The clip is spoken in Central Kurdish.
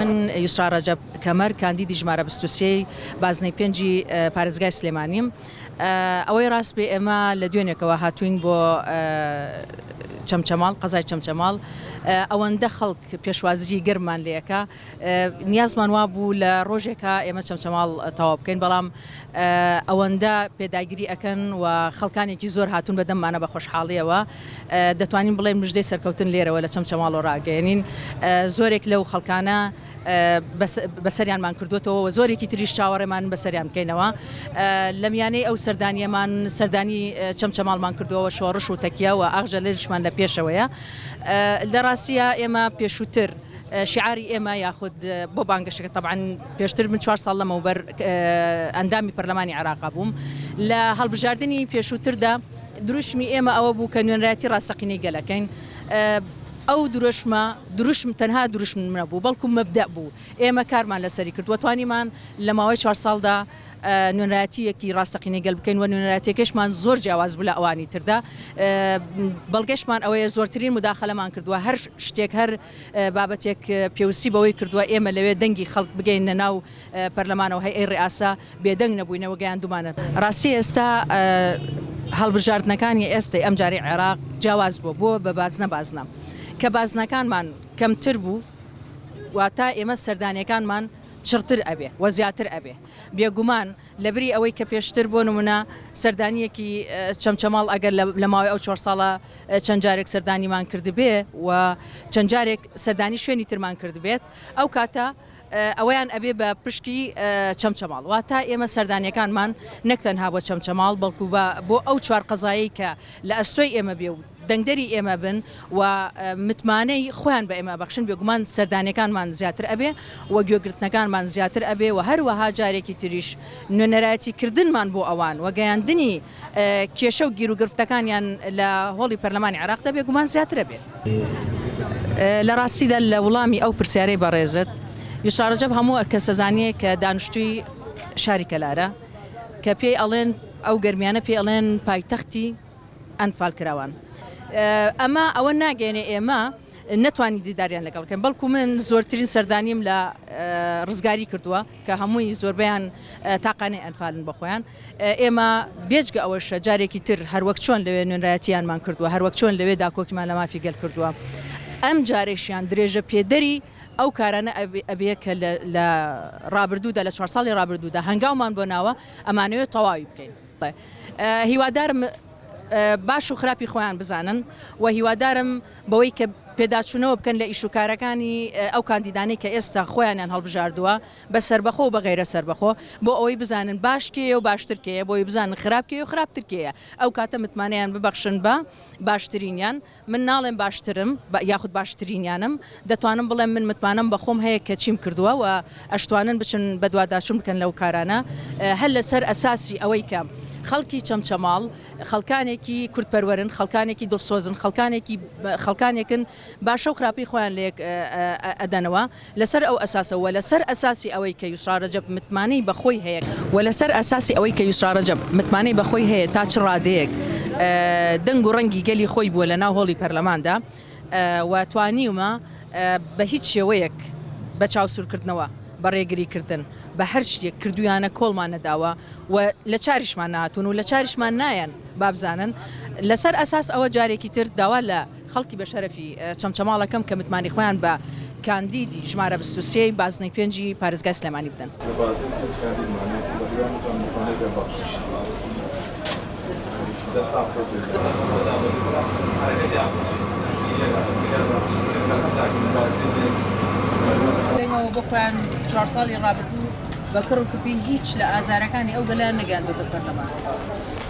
من یوسرا رەجەب کەمەر کاندیدی ژمارە بیست و سێی بازنەی پێنجی پارێزگای سلێمانیم ئەوەی ڕاست بێ ئێمە لە دوێنێکەوە هاتوین بۆ چەمچەماڵ قەزای چەمچەماڵ ئەوەندە خەڵک پێشوازیی گەرممان لێکە نیازمان وابوو لە ڕۆژێکا ئێمە چەمچەماڵ تەواو بکەین بەڵام ئەوەندە پێداگیری ئەکەن و خەڵکانێکی زۆر هاتون بە دەممانە بە خۆشحاڵیەوە دەتوانین بڵێن مژدەی سەرکەوتن لێرەوە لە چەمچەماڵەوە ڕاگەێنین زۆرێک لەو خەڵکانە بەسەریانمان کردوێتەوە و زۆرێکی تریش چاوەڕێمان بەسەریان بکەینەوە لە میانەی ئەو سەردانیەمان سەردانی چەمچەماڵمان کردوەوە شۆڕش و تەکیە و ئاخجە لەشمان لە پێشەوەیە لە ڕاستە ئێمە پێشووتر شیعاری ئێمە یاخود بۆ بانگەشەکە تەبعەن پێشتر من چوار ساڵ لەمەوبەر ئەندامی پەرلەمانی عێراق بووم لە هەڵبژاردننی پێشووتردا دروشمی ئێمە ئەوە بوو کە نوێنراتی ڕاستەقینەی گەلەکەین ئەو دروشمە دروشم تەنها دروشم منە بوو بەڵکو مەبدە بوو ئێمە کارمان لەسەری کرد وەتوانیمان لە ماوەی چوار ساڵدا نوێنراتیەکی ڕاستەقینە گەل بکەین و نوێنراتەکەشمان زۆر جیاواز بوو لە ئەوانی تردا بەڵگەشمان ئەوەیە زۆرترین مداخلەمان کردووە هەر شتێک هەر بابەتێک پێوستی بەوەی کردووە ئێمە لەوێ دەنگی خەڵک بگەیننە ناو پەرلەمانەوە هەیئەی ڕێئاسا بێدەنگ نەبووینە و گەیاندوومانە ڕاستی ئێستا هەڵبژاردنەکانی ئێستەی ئەمجارەی عێراق جیاواز بووە بۆ بە بازنە بازنە کە بازنەکانمان کەمتر بوو واتا ئێمە سەردانیەکانمان چڕتر ئەبێ و زیاتر ئەبێ بێگومان لەبری ئەوەی کە پێشتر بۆ نموونە سەردانییەکی چەمچەماڵ ئەگەر لە ماوەی ئەو چوار ساڵە چەند جارێک سەردانیمان کردبێ و چەند جارێک سەردانی شوێنی ترمان کردبێت ئەو کاتە ئەوەیان ئەبێ بە پشکی چەمچەماڵ واتە ئێمە سەردانیەکانمان نەک تەنها بۆ چەمچەماڵ بەڵکو بۆ ئەو چوار قەزایی کە لە ئەستۆی ئێمە بێ و دەنگدەری ئێمە بن و متمانەی خۆیان بە ئێمە ئەبەخشن، بێگومان سەردانیەکانمان زیاتر ئەبێ و گوێگرتنەکانمان زیاتر ئەبێ و هەروەها جارێکی تریش نوێنەرایەتی کردنمان بۆ ئەوان و گەیاندنی کێشە و گیروگرفتەکانیان لە هۆڵی پەرلەمانی عێراقدا بێگومان زیاتر ئەبێت. لە ڕاستیدا لە وڵامی ئەو پرسیارەی بەڕێزت، یوسا ڕەجەب هەموو کەس ئەزانێ کە دانشتووی شاری کەلارە کە پێی ئەڵێن، ئەو گەرمیانە پێی ئەڵێن پایتەختی ئەنفال کراوان ئەمە ئەوە ناگەێنێ ئێمە نەتوانانی دیداریان لەگەڵ بکەن بەڵکو من زۆرترین سەردانیم لە ڕزگاری کردووە کە هەمووی زۆربیان تاقانەی ئەنفالن بەخۆیان ئێمە بێجگە ئەوەشە جارێکی تر هەروەک چۆن لەوێ نوێنرایەتیانمان کردووە هەروەک چۆن لەوێ داکۆکیمان لە مافی گەل کردووە ئەم جارێشیان درێژە پێدەری ئەو کارانە ئەبێ کە لە ڕابردوودا لە چوار ساڵی ڕابردوودا هەنگاومان بۆ ناوە ئەمانەوێت تەواوی بکەین هیوادارم باش و خراپی خۆیان بزانن و هیوادارم بەوەی کە پێداچوونەوە بکەن لە ئیش و کارەکانی ئەو کاندیدانەی کە ئێستا خۆیانیان هەڵبژاردووە بە سەربەخۆ و بە غیرە سەربەخۆ بۆ ئەوەی بزانن باش کێیە و باشتر کێیە بۆی بزانن خراپ کێ و خراپتر کێیە ئەو کاتە متمانەیان ببەخشن بە باشترینیان من ناڵێم باشترم یاخود باشترینیانم، دەتوانم بڵێم من متمانەم بە خۆم هەیە کە چیم کردووە و ئەشتوانن بچن بەدواداچوون بکەن لەو کارانە هەر لەسەر ئەساسی ئەوەی کە خەڵکی چەمچەماڵ خەڵکانێکی کوردپەروەرن، خەڵکانێکی دڵسۆزن، خەڵکانێکی خەڵکانێکن باشە و خراپەی خۆیان لەیەک ئەدەنەوە. لەسەر ئەو ئەساسە و لەسەر ئەساسی ئەوەی کە یوسڕا رەجەب متمانەی بە خۆی هەیە، و لەسەر ئەساسی ئەوەی کە یوسڕا رەجەب متمانەی بە خۆی هەیە تا چ رادەیەک دەنگ و رەنگی گەلی خۆی بووە لە ناو هۆڵی پەرلەماندا و توانیومە بە هیچ شێوەیەک بە چاوسوورکردنەوە، بە رێگریکردن، بە هەر شتێک کردوویانە کۆڵمان نەداوە و لە چاریشمان نەهاتوون و لە چاریشمان نایەن، بابزانن لەسەر ئەساس ئەوە جارێکی تر داوا لە. خەڵکی بەشەرەفی چەمچەماڵەکەم کە متمانەی خۆیان بە کاندیدی ژمارە بیست و سێی بازنەی پێنجی پارێزگای سلێمانی بدەن. لە بازنەی پێنج کاندیدمان هەیە کە بەهیوامەتان متمانەی پێ بەخشین.